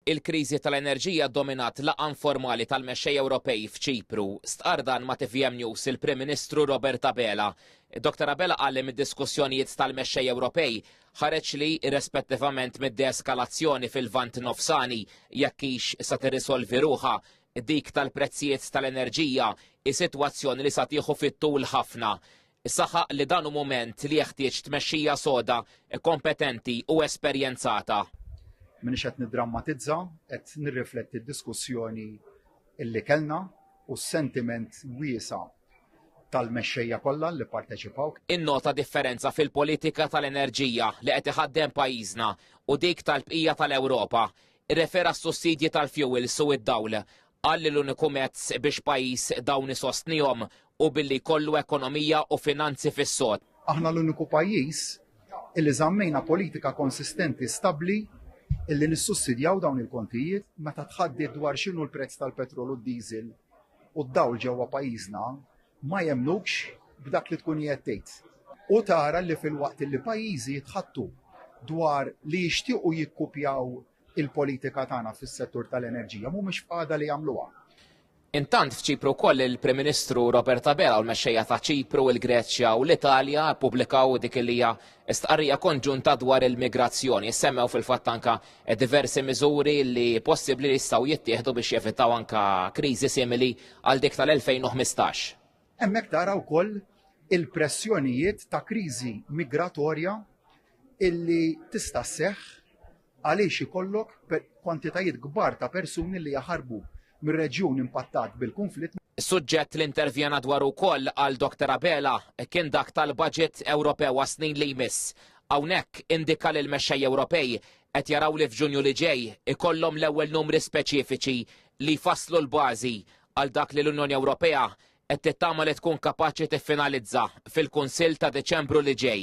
Il-kriżi tal-enerġija ddominat laqgħa informali tal-mexxejja Ewropej f'Ċipru. Stqarr dan ma' tvm News il-Prim Ministru Robert Abela. Dr Abela qal li mid-diskussjonijiet tal-mexxejja Ewropej ħareġ li, irrespettivament mid-deeskalazzjoni fil-Lvant Nofsani, jekk hix sa tirrisolvi ruħha, dik tal-prezzijiet tal-enerġija hi sitwazzjoni li sa tieħu fit-tul ħafna. Saħaq li dan hu mument li jeħtieġ tmexxija soda, kompetenti u esperjenzata. M'iniex qed niddrammatizza, qed nirrifletti d-diskussjoni li kellna u s-sentiment wiesa' tal-mexxejja kollha li pparteċipaw. Innota differenza fil-politika tal-enerġija li qed iħaddem pajjiżna u dik tal-bqija tal-Ewropa. Irrefera s-sussidji tal-fjuwils u d-dawl. Qal li l-uniku mezz biex pajjiż dawn isostnihom hu billi jkollu ekonomija u finanzi fis-sod. Aħna l-uniku pajjiż illi żammejna politika konsistenti stabbli illi nissussidjaw dawn il-kontijiet meta tħaddiet dwar x'inhu l-prezz tal-petrol u d-diesel u d-dawl ġewwa pajjiżna ma jemmnukx b'dak li tkun qiegħed tgħid. U tara li filwaqt illi pajjiżi jitħaddtu dwar li jixtiequ jikkupjaw il-politika tagħna fis-settur tal-enerġija mhumiex f'qagħda li jagħmluha. Intant f'Ċipru wkoll il-Prim Ministru Robert Abela u l-mexxejja ta' Ċipru, il-Greċja u l-Italja ppubblikaw dik li hija stqarrija konġunta dwar il-migrazzjoni. Semmew fil-fatt anka diversi miżuri li possibbli li jistgħu jittieħdu biex jevitaw anka kriżi simili għal dik tal-2015. Hemmhekk tara wkoll il-pressjonijiet ta' kriżi migratorja illi tista' sseħħ għaliex ikollok kwantitajiet kbar ta' persuni li jaħarbu mir-reġjun impattat bil-kunflitt. Suġġett li intervjena dwaru wkoll għal Dr Abela kien dak tal-baġit Ewropew għas-snin li jmiss. Hawnhekk indika li l-mexxejja Ewropej qed jaraw li f'Ġunju li ġej ikollhom l-ewwel numri speċifiċi li jfasslu l-bażi għal dak li l-Unjoni Ewropea qed tittama li tkun kapaċi tiffinalizza fil-Kunsill ta' Diċembru li ġej.